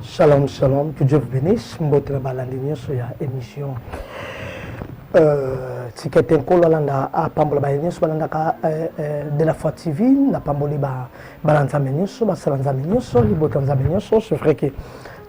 Shalom, shalom, que Dieu vous bénisse. Mbote na balandi nyonso ya émission. Euh, tikete nkolo alanda apambola baye nyonso balandaka euh, euh, de la foi tv napamboli bana nzambe nyonso basala nzambe nyonso libota nzambe nyonso c'est vrai que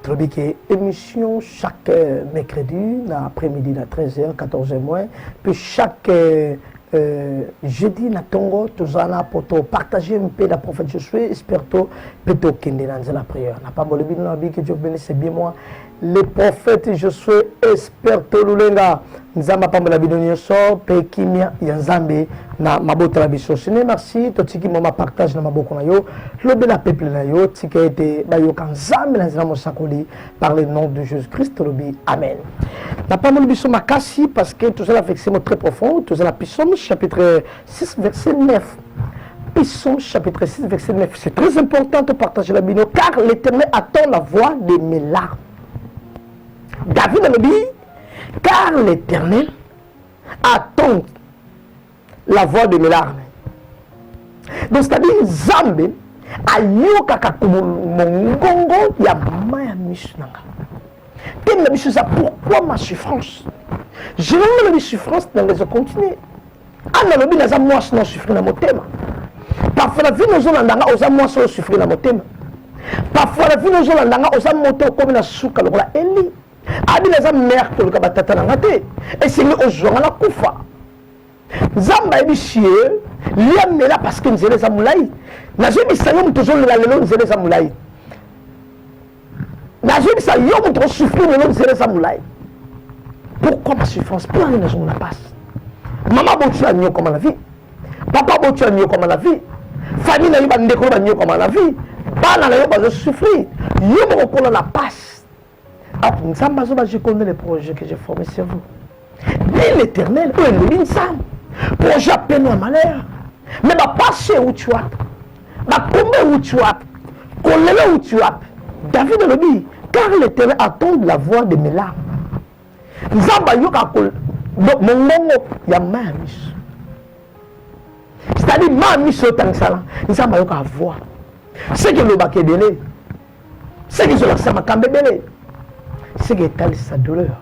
tolobi ke émission chaque euh, mercredi na après midi na 13h 14h moins puis chaque euh, euh, jeudi na tongo toza na po topartage mpe na prophète josue esperto mpe tokende na nzela prière na pamboli bino na biki dieu benisse bien moi le prophète josue esperto lulenga nzambe apambola bino nyonso mpe kimia ya nzambe na mabota na biso sene merci totiki mwa mapartage na maboko na yo lobela peuple na yo tika ete bayoka nzambe na nzela mosakoli par le nom de jésus christ tolobi amen napamboli biso makasi parce que toza na vexe mo très profond toza na pisome chapitre 6 verset 9 Psaume chapitre 6, verset 9. C'est très important de partager la bino car l'Éternel attend la voix de mes larmes. David a dit Car l'Éternel attend la voix de mes larmes. Donc c'est-à-dire Nzambe ayokaka mongongo ya mama ya miso na nga teme na biso eza pourquoi ma souffrance généralement na souffrance na nga ezocontinue ana alobi naza mwasi na osouffri na motema parfois na vino ozolanda nga oza mwasi osouffri na motema parfois na vino ozolanda nga oza moto okomi na suka lokola eli abi naza mère koleka batata na nga te esengi ozwa nga na kufa nzambe ayebi sie lia mela parce que nzela eza molai nazoyebisa yo moto ozolela lelo nzela eza molai nazoyebisa yo moto osouffrir lelo nzela eza molai pourquoi ma souffrance mpo nani nazomona mpasi mama botu ya nyokoma na vie papa botu ya nyokoma na vie famille na yo bandeko yo banyokwama na vie bana na yo bazosouffrir yo mokokola na pasi Apo Nzambe azoba je connais le projet que j'ai formé sur vous. Dit l'éternel, oyo elobi Nzambe. Projet ya peno ya malheur. Mais ba pasi euti wapi? Ba kombe euti wapi? Kolelo euti wapi? David elobi, car l'éternel attend la voix de mes larmes. Nzambe ayoka mongongo ya ma ya miso. C'est-à-dire ma miso otangisala, Nzambe ayoka voix. Ce que elobaka ebele, seke ezolakisa makambo ebele seke etalisa douleur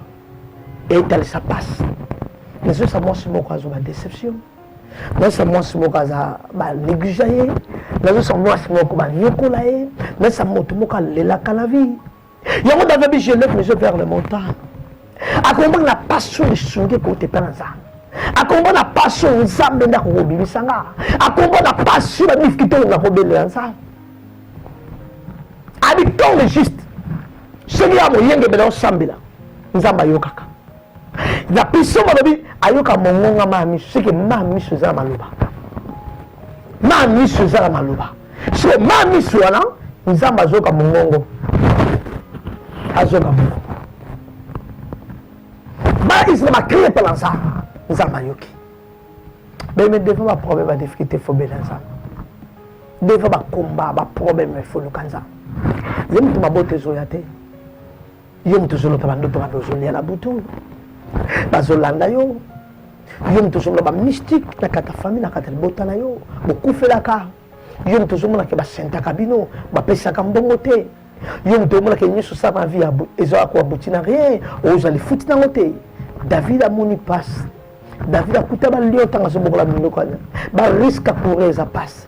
etalisa pasi nazosa mwasi moko azwa badeception nazosa mwasi moko aza banegligea ye nazosa mwasi moko banyokola ye nazosa moto moko alelaka la vie yango david bi je lève mes yeux vers le montant akomona na pasi oyo esungi ekote mpe na nzambe akombo na pasi oyo nzambe nde akokobimisa nga akombo na pasi oyo badifiki te oyo nakobelela nzambe abi tonge juste soki ya moyengebela osambela nzambe ayokaka na biso balobi ayoka mongonga maa miso seke maa miso eza na maloba maa miso eza na maloba seke maa miso wana nzambe azoyoka mongongo azoyoka mongongo baisrael bakrie epalansa nzambe ayoki beme devant baproblème ba difficulté fo bela nzambe devant bakomba baproblème efoluka nzambe ye moto mabota ezoya te yo moto ozolota bandoto mabe ozolia na butu bazolanda yo yo moto ozoloba mystique na kata famille na kata libota na yo bokufelaka Yo moto ozomona ke basentaka bino, bapesaka mbongo te. Yo moto omona ke nyonso sa na vie ezalaka koabuti na rien, ozali futi nango te. David amoni pasi. David akuta balio ntango azobokola minoko wana. Bariske akourir eza pasi.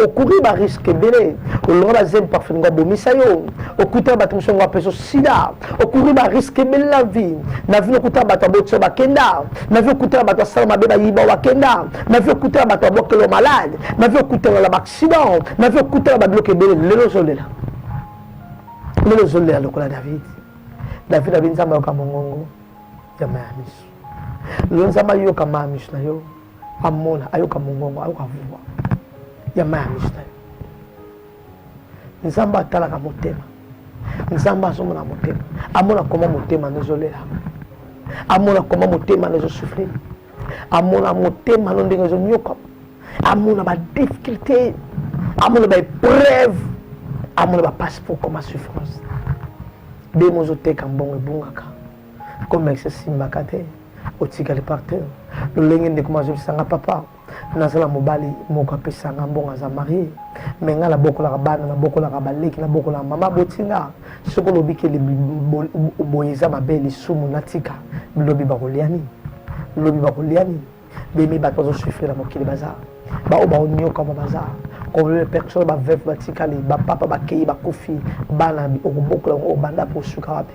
Okourir bariske ebele. Olonga bazemi parfum ngo abomisa yo. Okuta bato mosusu ngo apesa sida. okuri ba risque ebele na vie na vie okuta bato ya botio bakenda na vie okutana bato ya sala mabe bayiba bakenda na vie okutana bato ya bokelo malade na vie okutana na baaccident na vie okutana babiloko ebele lelo ozolela lelo ozolela lokola david david abi nzambe ayoka mongongo ya maya miso lelo nzambe ayoka maya miso na yo amona ayoka mongongo ayoka vua ya maya miso na yo nzambe atalaka motema nzambe azomona motema amona koma motema no ezolela amona koma motema no ezosufrire amona motema no ndenge ezonyoka amona badifficulté amona baepreuve amona bapasi po koma souffrance nde mozoteka mbongo ebungaka komekisa esimbaka te otikali par terre lolenge ndeko mazobisanga papa naza na mobali moko apesa nga mbongo aza marie me nga nabokolaka bana nabokolaka baleki nabokolaka mama aboti nga soki olobi ke boye eza mabe lisumu natika lobi bakolia nini lobi bakolia nini bemi bato bazosufrire na mokili baza baoyo baonyokama baza combien de personnes baveuve batikali bapapa bakei bakufi bana okobokola yango obanda mpe osuka wapi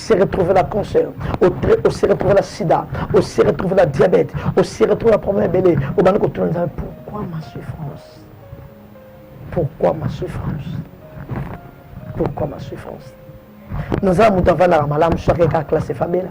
se retrouver na cancer o se retrouver na sida o se retrouver na diabète o se retrouver na problème ebele obandi kotuna nzambe pourquoi ma souffrance pourquoi ma souffrance pourquoi ma souffrance naza na moto avandaka malamu soki kaka classe efabela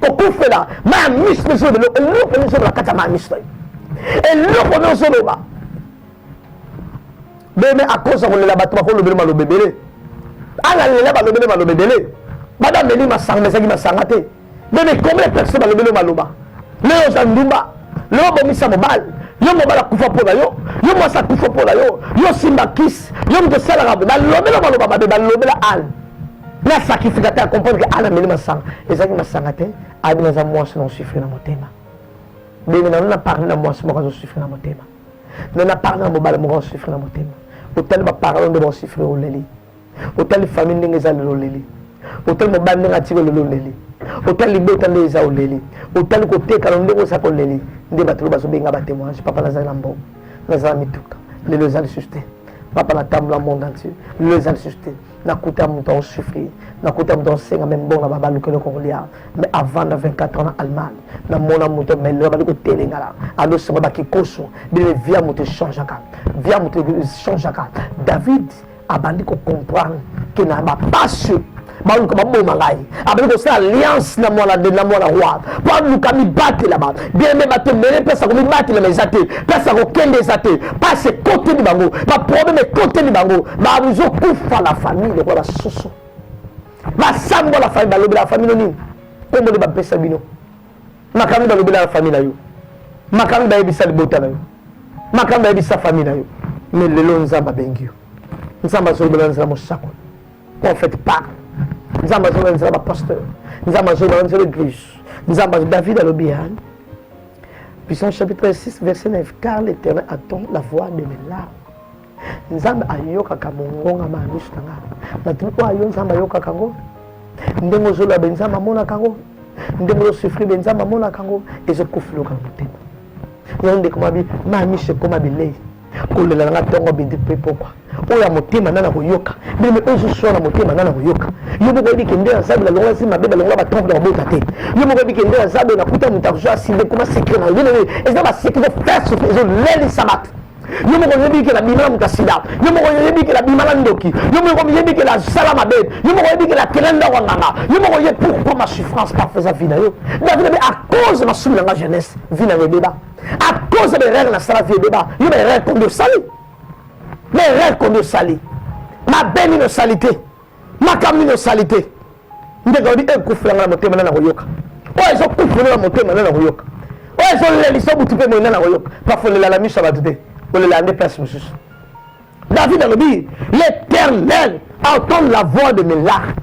kokufela maya miso mpe ezoloba eloko nde ezoloba kati ya maya miso ye eloko nde ozoloba beme akosa kolela bato bakolobele maloba ebele analela balobele maloba ebele bada ameli masanga mezaki masanga te beme combien de personne balobele maloba lelo oza ndumba lelo obomisa mobali yo mobali akufa mpo na yo yo mwasi akufa mpo na yo yo simba kisi yo moto osalaka balobela maloba mabe balobela ale na sakifika te acomprendre ke ana meli masanga ezalaki masanga te abi naza mwasi na osufre na motema ndenge nano na parle na mwasi moko azo sufre na motema me na parle na mobali moko asufre na motema otali baparole nde baosufre oleli otali famille ndenge eza lelo oleli otali mobali ndenge atika oleli oleli otali libota nde eza oleli otali kotekana ndenge oza koleli nde bato lo bazobenga batemoignage papa nazali na mbongo nazala mituka lelo eza lisusu te papa natambola monde entier lelo eza lisusu te na kuta ya moto ao souffrir na kuta ya moto ao senga meme bongo na baba lukela okoko lia mais avant na 24 ans na Allemagne na mona moto mais lelo bali ko telengala alo sema ba kikoso bile via moto changeaka via moto changeaka David abandi ko comprendre que na ba passion ba luka ba boma ngai abandi kosala alliance na mwana na mwana roi mpo aluka mibatelama biyeme bato ebele mpasi ya komibatelama eza te mpasi ya kokende eza te mpasi ekoteli bango baproblème ekoteli bango bazokufa na famille lokola basusu basambo la famille balobela famille nini nkombo nde bapesa bino makambo balobela na famille na yo makambo bayebisa libota na yo makambo bayebisa famille na yo me lelo nzambe abengi yo nzambe azolobela nzela mosakoli prophète pas nzambe azonga nzela bapasteur nzambe azonga nzela église nzambe azo david alobi ya puissance chapitre 6 verset 9 car l'éternel attend la voix de mes larmes nzambe ayokaka mongonga ma miso na ngai natuni oyo ayo nzambe ayokaka yango ndenge ozoloba be nzambe amonaka yango ndenge ozosufri be nzambe amonaka yango ezokufiloka na motema yango ndeko mabi ma miso ekoma bilei kolela nanga ntongo bindi mpe pokwa oyo ya motema nana koyoka bino oyo zoswana motema nana koyoka yo moko oyebi kende ya zabe nalongola si mabe balongola batrompe na kobota te yo moko oyebi kende ya zabe nakuta moto akozwa aside koma sekre na yo eza baseki zo fese ezolelisa bato yo moko oyebi ke nabima na moto ya sida yo moko oyebi ke nabima na ndoki yo moko oyebi ke nasala mabe yo moko oyebi ke nakela ndako ya nganga yo moko oye pourquoi ma souffrance parfois eza vi na yo david abe à cause masumu na nga jeunesse vi na nga ebeba à cause ya baerreur nasala vie ebeba yo baerreur combien osali baerreur combien osali mabe nini osali te makambo nini osali te ndenge olobi ekufela nga na motema nana koyoka oyo ezokufela na motema nana koyoka oyo ezolelisa butu mpe moye nana koyoka pafo olela na miso ya bato te olela nde place mosusu david alobi l'éternel entend la voix de mes larmes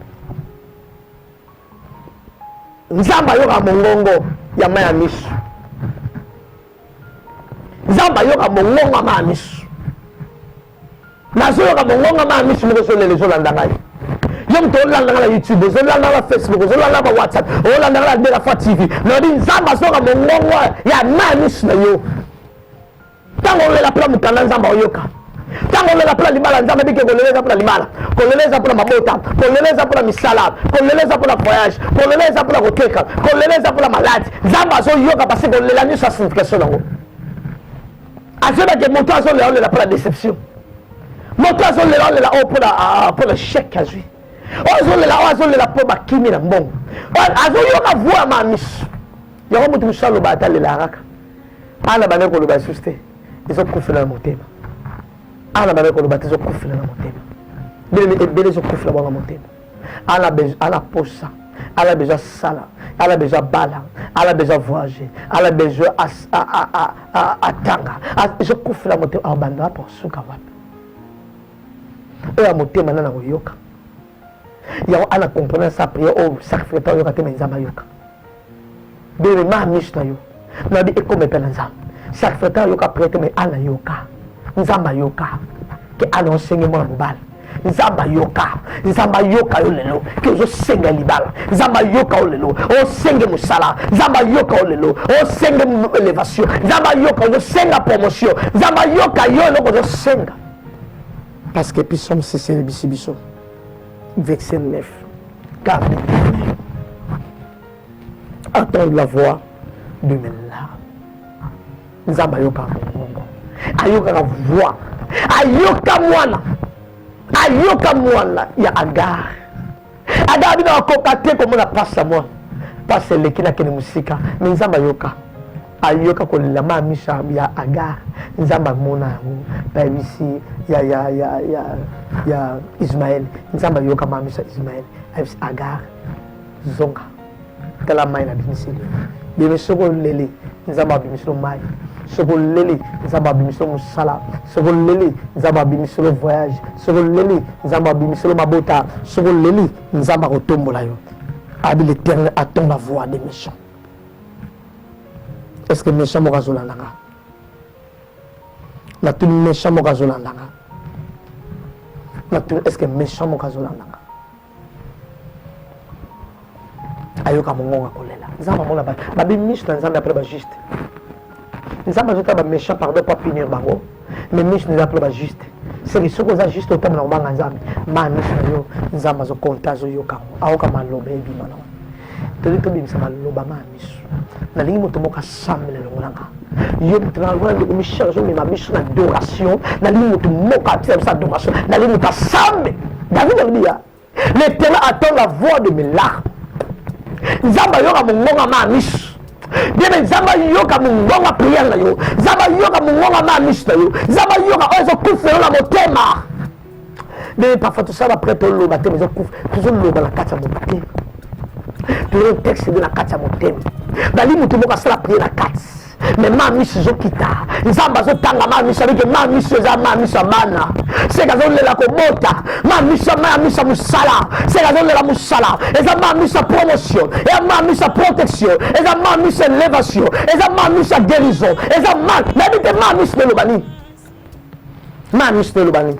nzambe ayoka mongongo ya mai ya misu nzambe ayoka mongongo ya mai ya misu nazoyoka mongongo ya mai ya misu moko ezolela ezolanda ngai yo moto olandaka na youtube ozolandaka na facebook ozolandaka na whatsapp olandaka na delafa tv nalobi nzambe azoyoka mongongo ya mai ya misu na yo ntango olela mpona mokanda nzambe oyoka ntango olela mpona libala nzambe bike kolela eza mpona libala kolela eza mpona mabota kolela eza mpona misala kolela eza mpona voyage kolela eza mpona koteka kolela eza mpona maladi nzambe azoyoka pasi kolela nyonso ya signification yango azobake moto azolela olela mpona déception moto azolela olela oyo mpona ah, ah, chèque azwi oyo azolela oyo azolela mpo bakimi na mbongo azoyoka voix ya mamisu yango moto mosusu aloba ata lela kaka awa na bandaki koloba lisusu te ezokufela na motema awa na bandaki koloba te ezokufela na motema bilemi ebele ezokufela bango motema ala posa ala besoin asala ala besoin abala ala besoin avoyage ala besoin atanga ezokufela motema awa banda wapi osuka wapi oyo ya motema nana koyoka yango ana comprendre sa prière oyo sacrificateur oyoka te me nzambe ayoka Bebe ma misu na yo. Na bi ekoma epela nzambe. Chaque fois ta yoka prête mais ana yoka. Nzambe ayoka. Ke ana osenge mwana mobali. nzambe ayoka nzambe ayoka yo lelo ke ozosenga libala nzambe ayoka yo lelo osenge mosala nzambe ayoka yo lelo osenge elevation nzambe ayoka ozosenga promotion nzambe ayoka yo eloko ozosenga parce que episome sesele bisi biso Verset 9. Car entendre la voix de mes larmes. Nzambe ayokaka mongongo, ayokaka voix, ayoka mwana, ayoka mwana ya Agar. Agar bino akoka te komona pasi ya mwana, pasi eleki nakende mosika, me Nzambe ayoka Ayoka kolela ma Amisha ya Agar, Nzambe amona yango, bayebisi ye ya ya ya ya ya Ismaël, Nzambe ayoka ma Amisha Ismaël, ayebisi Agar zonga tala mai nabimiseli bebe soki oleli nzambe abimisi yo mai soki oleli nzambe abimisi yo mosala soki oleli nzambe abimisi yo voyage soki oleli nzambe abimisi yo mabota soki oleli nzambe akotombola yo abi l'éternel attend la voix des méchants Est-ce que méchant moko azolanda nga? Natuni méchant moko azolanda nga? Natuni est-ce que méchant moko azolanda nga? ayoka mongongo akolela nzambe amona babi miso na nzambe apres bajuste nzambe azotala baméchant pardon po apinir bango mais misu nde ezalaka loba juste seke soki oza juste otambola kobanga nzambe ma misu na yo nzambe azokonta azoyoka yango aoka maloba ebima na tolingi tobimisa maloba ma misu nalingi moto moko asambela longola nga yo moto nalongola ndeko michel azomema biso na adoration nalingi moto moko apesa biso adoration nalingi moto asambe david alobi ya L'Éternel attend la voix de mes larmes. Nzambe ayoka mongonga ma miso. Bebe Nzambe ayoka mongonga prière na yo. Nzambe ayoka mongonga ma miso na yo. Nzambe ayoka oyo ezokufa yo na motema. Bebe parfois tosala prête oloba te mais ezokufa. Tozoloba na kati ya motema. Toyo texte de na kati ya motema. Bali moto moko asala prière na kati. me ma miso ezokita nzambe azotanga ma miso abike ma miso eza ma miso ya bana seke azolela kobota ma miso ma ya miso ya mosala seke azolela mosala eza ma miso ya promotion eza ma miso ya protection eza ma miso ya elevation eza ma miso ya guérison eza ma nayebi te ma miso na eloba nini ma miso na eloba nini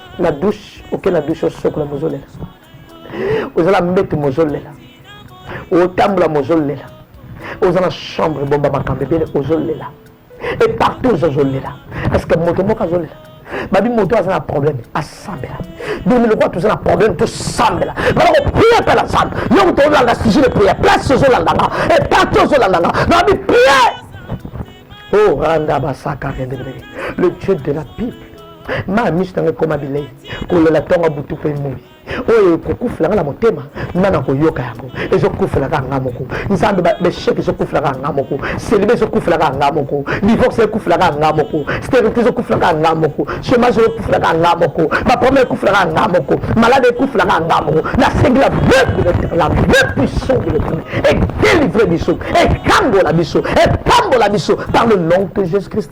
na douche oke na douche osokola mozolela ozala mbetu mozolela otambola mozolela oza na chambre ebomba makambo ebele ozolela e partout ozozolela parce que moto moko azolela babi moto aza na problème asambela bino lokola toza na problème tosambela bana koprie mpe na nzambe yo moto olanda sujet de prière place ozolanda nga e partout ozolanda nga nabi prière oh randa basaka rendebeleke le dieu de la bible ma miso nanga ekoma bilei kolela ntongo butu mpe moi oyo ekokufela nga na motema nga na koyoka yango ezokufela kaka nga moko nzambe besheke ezokufela kaka nga moko selibe ezokufela kaka nga moko divorce ekufela kaka nga moko sterilité ezokufela kaka nga moko chômage ekufela kaka nga moko baproblème ekufela kaka nga moko malade ekufela kaka nga moko nasengi la veuve de l'éternel la veuve puissant de l'éternel edelivre biso ekangola biso epambola biso par le nom de jésus christ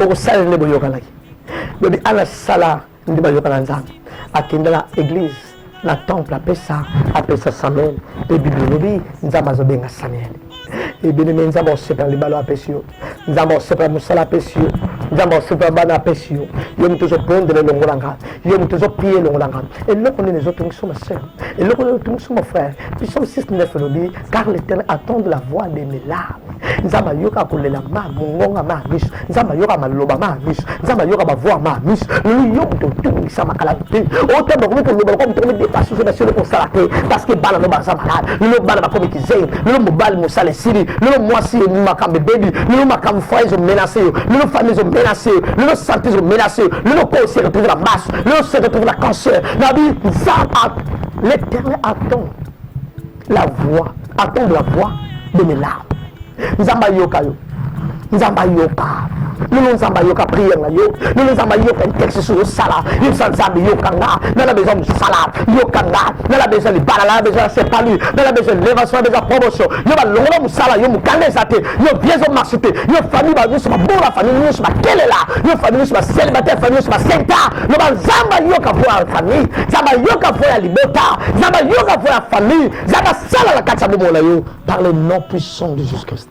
okosala nde boyokanaki lobi ana sala nde bayokana nzambe akenda na église na temple apesa apesa samuel mpe biblia elobi nzambe azobenga samuel ebelemi nzambe akosepela libala apesi yo nzambe akosepela mosala apesi yo nzambe akosepela bana apesi yo yo moto ozobondela elongo na nga yo moto ozopiye elongo na nga eloko nini ezotungisa ma sœur eloko nini ezotungisa ma frère psalme 69 elobi car l'éternel attend la voix de mes larmes nzambe ayoka kolela ma mongonga ma miso nzambe ayoka maloba ma miso nzambe ayoka bavoi ma miso lelo yo moto otungisa makala te otamba komi koloba lokola moto komi depase ozo nasi oloko osala te parce que bana no baza malade lelo bana bakomi kizei lelo mobali mosala esili lelo mwasi makambo ebebi lelo makambo fra ezo menase yo lelo fami ezo menase yo lelo sante ezo menase yo lelo ko se retrouve na maso lelo se retrouve na cancer nabi nzambe l'éternel attend la voix attendre la voix de mes larmes nzambe ayoka yo nzambe ayoka lelo nzambe ayoka priere na yo lelo nzambe ayoka intexte soki osala yebisa nzambe yoka nga nga na besoin mosala yoka nga nga na besoin libala nga na besoin ya sepali nga na besoin elevation na besoin promotion yo balongola mosala yo mokanda eza te yo vie ezo marche te yo famille banyoso babola famille nyonso bakelela yo famille nyonso bacelibataire famille nyonso basenta loba nzambe ayoka mpo ya famille nzambe ayoka mpo ya libota nzambe ayoka mpo ya famille nzambe asala na kati ya bomoi na yo par le nom puissant de jesus christ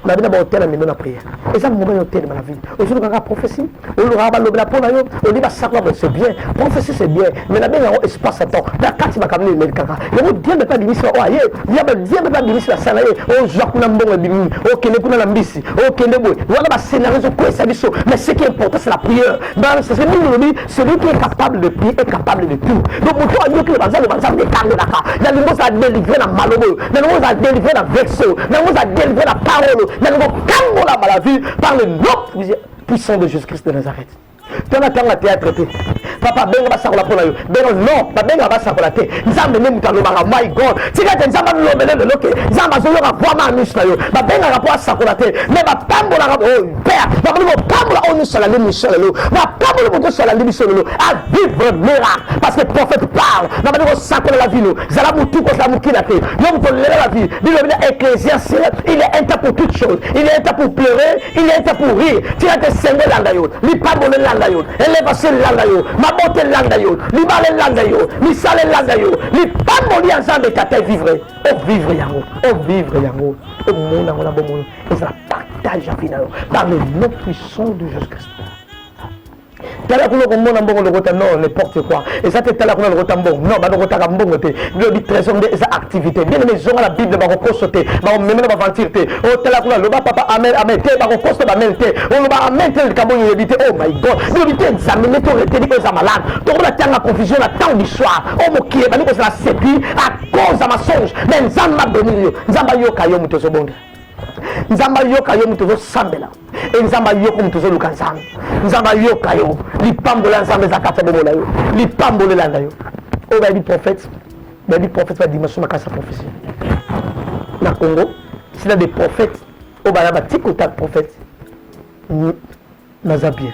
na bino baotela mino na priere eza moment ya otelema na vie ozoluka kaka prophesie olukaka balobela mpo na yo oli basako yango c'est bien prophesie c'est bien mais nabenga yango espace ya temps na kati makambo nini emeli kaka yango diembe mpe abimisi oyo aye yaba diembe mpe abimisi basala ye ozwa kuna mbongo ebimi okende kuna na mbisi okende boye wana bascenario ezokwesa biso mais ce qui est important c'est la prière Dans ce que nous dit, celui qui est capable de prier est capable de tout. Donc, moto ayoki le banzambe banzambe ekangelaka nalingi ozala délivre na maloba oyo nalingi ozala délivre na verse oyo nalingi ozala délivre na parole oyo nalingi okangolama la vie par le nom puissant de Jésus-Christ de Nazareth. tala ntango ya théâtre te papa benga basakola mpo na yo beno non babenga basakola te nzambe nde moto alobaka my god tika te nzambe alobele lelo ke nzambe azoyoka vraimen anusu na yo babengaka mpo asakola te me bapambolaka oyo oh, père bakomi kopambola oyo nyonso alandi miso lelo bapamboli moto nyonso alandi biso lelo avivre miracle parce que prophète parle na bandi kosakola la vino zala motu kozala mokila te yo moto lela la vie bilobi na ecclésiaste il est un temps pour toute chose il est un temps pour pleurer il est un temps pour rire tika te sengo elanda yo lipambolo elanda yo elevation elanda yo mabota elanda yo libala elanda yo misala elanda yo lipamboli ya nzambe tata evivre ovivre yango ovivre yango omona yango na bomoi ezala partage ya vie na yo par le nom puissant de jésus christ tala kuna okomona mbongo lokota non n'importe quoi eza te tala kuna lokota mbongo non balokotaka mbongo te lobi trésor nde eza activité bien aimé ezonga na bible bakokoso te bakomema na baventure te o oh, tala kuna loba papa amen amen te bakokoso bamel te oloba oh, amen te likambo oyo oyebi te oh my god bilobi te nzambe nde toreteni oyo eza malade tokola tianga confusion na temps du soir o oh, mokili ebandi kozala séduit à cause ya mensonge mais nzambe abonili yo nzambe ayoka yo moto ezobonga nzambe ayoka yo moto ozosambela e nzambe ayoka moto ozoluka nzambe nzambe ayoka yo lipambolo ya nzambe eza kati ya bomo na yo lipambolo elanda yo oyo bayebi prophète bayebi prophète ba dimension makasi ya prophétie na congo sila de prophète oyo baya batikota prophète naza bien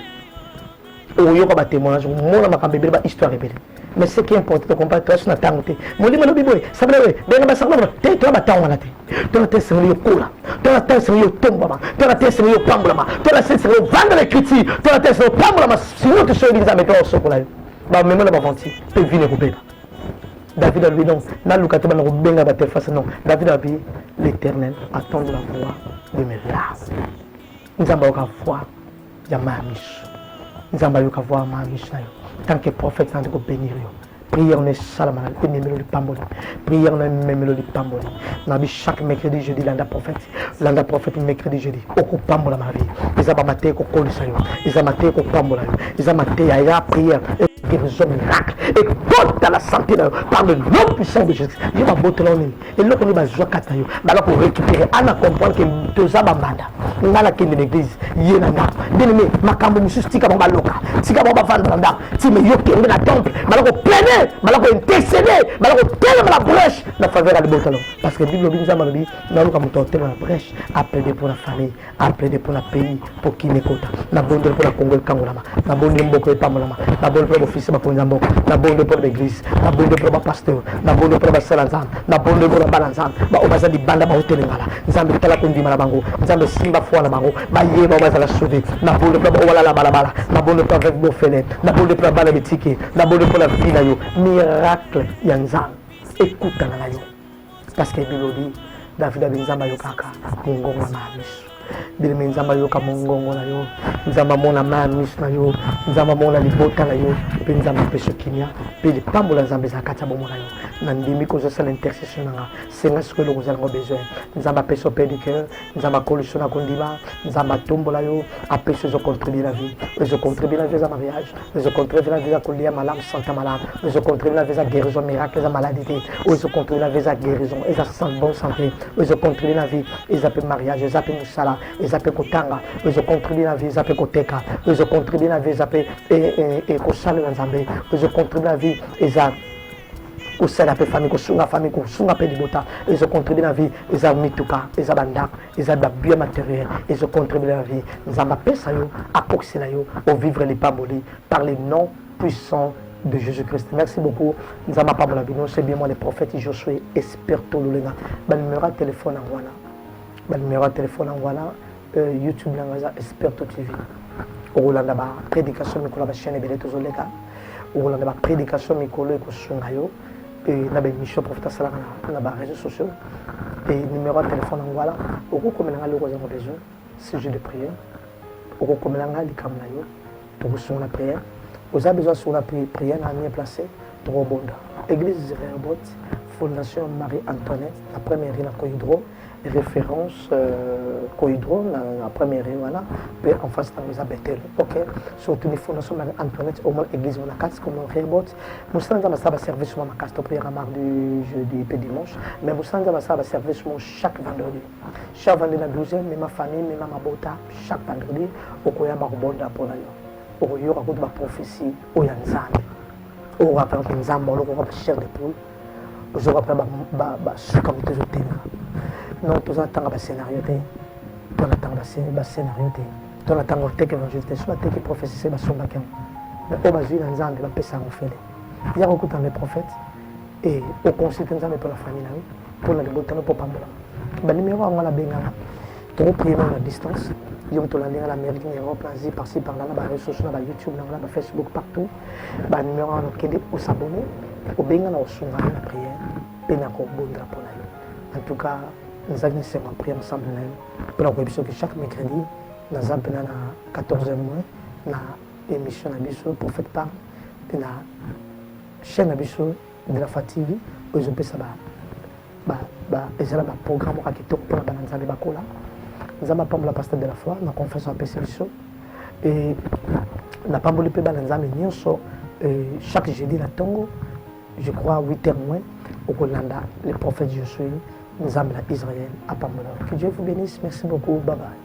okoyoka ba témoignage omona makambo ebele ba histoire ebele mais ce qui importe tokompare toasi na ntango te molimo alobi boye sabela boye benga basakolo te toya batango wana te tola te esengeli yokola tola te esengeli yotombwama tola te esengeli yopambolama tola te esengeli ovanda na ecriture tola te esengeli opambolama sino tosoyebi nzambe to osokola yo bamema na baventure mpe vine ekobeba david alobi non naluka te bana kobenga batelefase non david alobi l'éternel attendre la voix de mes larmes nzambe ayoka voix ya maya misu nzambe ayoka voix ya maya misu na yo tant que prophète nandi kobenir yo prière no esalama na ememelo lipamboli prière no ememelo lipamboli nabi chaque mercredi jeudi landa prophète landa prophète mercredi jeudi okopambola ma vie eza bamateya kokolisa yo eza mateya kopambola yo eza mateya ya prière guérison miracle ekota la santé na yo par le nom puissant de jésus ye babotela yo nini eloko nini bazwa kati na yo bala ko récupérer ana comprendre ke toza bambanda ngai nakende na église ye na ndako bien aimé makambo mosusu tika bango baloka tika bango bavanda na ndako ti me yo kende na temple bala ko plaine bala ko intercede bala ko telema na brèche na faveur ya libota no parce que bible lobi nzambe alobi naluka moto ya otema na brèche aplaide mpo na famille a plaide mpo na pays mpo kini ekota nabondeli mpo na kongo ekangolama nabondeli mboka epambolama nabondeli mpo na bofisi bakonzi ya mboka nabondeli mpo na baeglise nabondeli mpo na bapasteur nabondeli mpo na basala nzambe nabondeli mpo na bana nzambe baoyo baza libanda baotelengala nzambe tala kondima na bango nzambe simba foi na bango bayeba oyo bazala sauve nabondeli mpo na baoyo balala balabala nabondeli mpo na veuve bofele nabondeli mpo na bana bitike nabondeli mpo na vie na yo miracle ya nzambe ekutana na yo parce que bilobi davida bi nzambe ayokaka mongongo na miso bileme nzambe ayoka mongongo na yo nzambe amona ma ya miso na yo nzambe amona libota na yo mpe nzambe apesa kimia mpe lipambola nzambe eza kati ya bomo na yo nandimi kozosala intercession na nga senga sikoyo eloko ozala ngo besoin nzambe apesa mpe du cœur nzambe akolisa na kondima nzambe atombola yo apesi ezo contribue na vie ezo contribue na vie eza mariage ezo contribue na vie eza kolia malamu santa malamu ezo contribue na vie eza guérison miracle eza maladie te oyo ezo contribue na vie eza guérison eza bonne santé ezo contribue na vie eza mpe mariage eza mpe mosala eza mpe kotanga ezo contribue na vie eza mpe koteka ezo contribue na vie eza mpe ekosalela nzambe ezo contribue na vie eza kosala mpe famille kosunga famille kosunga mpe libota ezo contribue na vie eza mituka eza bandako eza babien matériel ezo contribue na vie nzambe apesa yo akokisela yo ovivre lipamboli par le nom puissant de Jésus-Christ. Merci beaucoup. Nzama Pablo Bino, c'est bien moi le prophète Josué Esperto Lulenga. Ba numéro de téléphone à voilà. ba numero ya telefone yango wana euh, youtube na yango eza esperto tv okolanda ba prédication mikolo ya bachaine ebele tozoleka okolanda ba prédication mikolo ekosunga yo na baémission profite asalaka na ba réseaux sociaux e numero ya telefone yango wana okokomela ngai loko ozango besoin sujet de prière okokomela ngai likambo na yo tokosunga na prière oza besoin asunga na prière na mie place tokobonda église rehoboth fondation marie antoinette na première rue na cohydro référence euh, cohydro na, na première rue wana mpe en face nango eza bethel ok so otuni fondation marie antoinette omona église wana kati komo rehoboth mosala nzambe asala baservice mwa makasi topriere mardi jeudi mpe dimanche mais mosala nzambe asala baservice mwa chaque vendredi Sha vandi na 12 mema famille mema mabota chaque vendredi okoya bakobonda mpo na yo okoyoka kutu baprophesie oyo ya nzambe okoka mpena mpe nzambe olokoka bachef de poule ozoka mpena basuka moto ezotenga non toza na ntanga bascenario te to na ntanga bascenario te to na ntanga oteke évangile te so bateki prophesie se basombaki yango mais oyo bazwi na nzambe bapesa yango fele ya kokutana na prophète e oconsulte nzambe mpo na famille na yo mpo na libota no mpo pambola banimero yango nabengana tokoprie nao na distance yo moto olandi nga na amérique na europe na asie parci parla na bareseau sociaux na bayoutube na nga na bafacebook partout banimero wana okende osabone obenga na osunga yo na prière mpe na kobondela mpo na yo en tout cas nazalaki na esengo ya prière ensemble na yo mpo na koyebisa oke chaque mercredi naza mpena na 14 mois na emission na biso prophète pam mpe na chaîne na biso de la fa tv oyo ezopesa ba, ba, ba, ezala baprogramme oka kitoko mpo na bana nzambe bakola nzambe apambola pasteur de la foi na confiance oyo apesi biso e napamboli mpe bana nzambe nyonso e, chaque jeudi na ntongo je crois 8 heures moins okolanda le prophète josué nzambe na israël apambola que dieu vous bénisse merci beaucoup bye bye